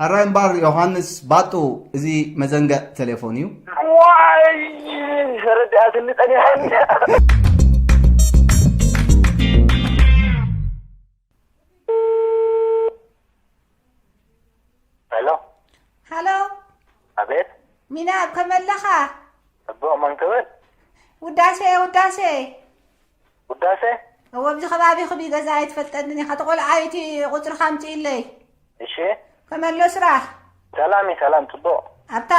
ሕራይ እምባር ዮሃንስ ባጡ እዚ መዘንገዕ ተሌፎን እዩ። ዋይ ረዳእትኒ ጸኒሐኒ። ሚና ከመለኻ ጽቡቕ መንክብል ውዳሴ ውዳሴ ውዳሰ። እወ ኣብዚ ከባቢ ክብይ ገዛ ኣይትፈልጠንን ኢካ ተቆልዓ ኢቲ ቁፅርካ ኣምፅኢለይ እሺ። ከመሎ ስራሕ። ሰላም እዩ ሰላም ፅቡቅ። ኣብታ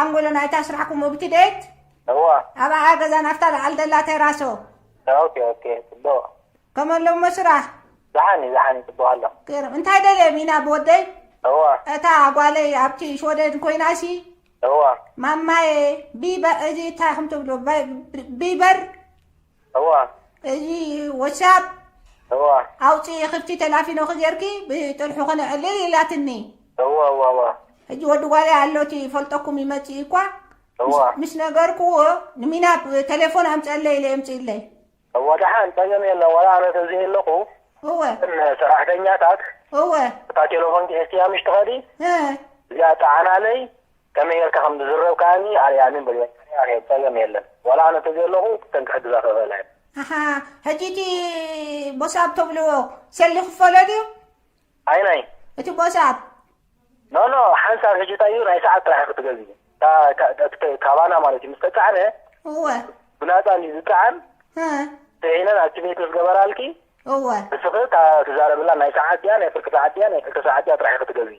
ኣንጎሎ ናይታ ስራሕኩም ኡብቲ ቤት እወ። ኣብኣ ገዛ ናፍታ ላዕሊ ዘላ ቴራሶ። ኦኬ ኦኬ ፅቡቅ። ከመሎ እሞ ስራሕ። ዳሓን እዩ ዳሓን እዩ ፅቡቅ ኣሎ። ገርም እንታይ ደልየ ሚና ብወደይ እወ እታ ጓለይ ኣብቲ ሽወደን ኮይናሲ እወ። ማማየ ቢበ እዚ እንታይ ኢኩም ትብልዎ ብ- ቢበር እዋ እዚ ወትሳፕ እዋ ኣውፅኢ ክፍቲ ተላፊኖኺ ጌርኪ ብጥርሑ ክነዕልል ኢላትኒ እዋ እዋ እዋ ሕጂ ወዲ ጓለይ ኣሎቲ ይፈልጠኩም ይመፅእ እዩ እኳ እዋ ምስ- ምስ ነገርኩዎ ንሚናብ ቴሌፎን ኣምፀለይ ኢለ የምፅእለይ እዋ ደሓን ፀገም የለን ዋላ ኣነ ተዝህ ኣለኹ እወ እተን ሰራሕተኛታት እወ እታ ቴሌፎን ሒዝክያ ምሽ ትኸዲ እ፣ እዚኣ ጠዓናለይ ከመይ ጌርካ ከም ዝዝረብ ከኣኒ ኣርእያኒ እምበር የማነ ኣርየ ጸገም የለን ዋላ ኣነ ተዘየለኹ እተን ክሕግዛ ክኽእላ እየን። ኣሓ ሕጂ እቲ ቦሳብ ተብልዎ ሰልዲ ክፈሎ ድዩ? ኣይናይ? እቲ ቦሳብ። ኖ ኖ ሓንሳብ ሕጂ እንታይ እዩ ናይ ሰዓት ጥራሕ እዩ ክትገዝኢ እታ ካባና ማለት እዩ ምስ ተጻዕነ እወ ብናጻ እንድዩ ዝጸዓን እ ጽዒነን ኣክቲቬት ምስ ገበራልኪ እወ ንስኺ እታ ትዛረብላ ናይ ሰዓት ድያ ናይ ፍርቂ ሰዓት ድያ ናይ ክልተ ሰዓት ድያ ጥራሕ እዩ ክትገዝኢ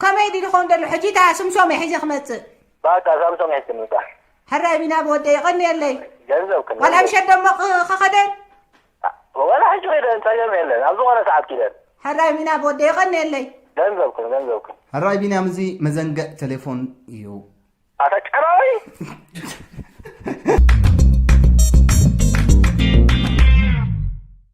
ከመይ ድዩ ዝኸውን ደሎ ሕጂ እታ ስምሶመይ ሒዘ ክመጽእ። ባቃ ሳምሶም ሒዝኪ ምምጻእ። ሕራይ ቢናብ ወደይ የቐንየለይ። ገንዘብ ክን ዋላ ምሸት ደሞ ኽ- ክኸደን። ወላ ሕጂ ኺደን ጸገም የለን ኣብ ዝኾነ ሰዓት ኪደን ሕራይ ቢናብ ወደይ የቐንየለይ። ገንዘብክን ገንዘብክን ሕራይ ቢንያም እዚ መዘንግዕ ቴሌፎን እዩ ኣታ ጨራዊ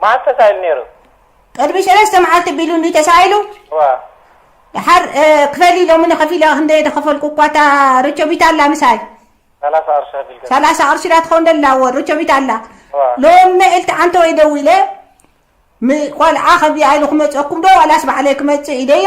መዓስ ተሳኢሉ ነይሩ? ቅድሚ ሰለስተ መዓልቲ ቢሉ እንድዩ ተሳኢሉ። እወ። ደሓር ክፈሊ ሎሚ ንኸፊላ ክንደይ ደኸፈልኩ እኳ እታ ርቾቢት ኣላ ምሳይ ሰላሳ ቅርሺ ከፊል ገዛ። ሰላሳ ቅርሺ ዳ ትኸውን ደላ እወ ርቾቢት ኣላ እወ። ሎሚ መኢልቲ ዓንተወይ ደዊለ ም ቆልዓ ከቢኣ ኢሉ ክመፀኩም ዶ ዋላስ ባዕለይ ክመፅእ ኢለዮ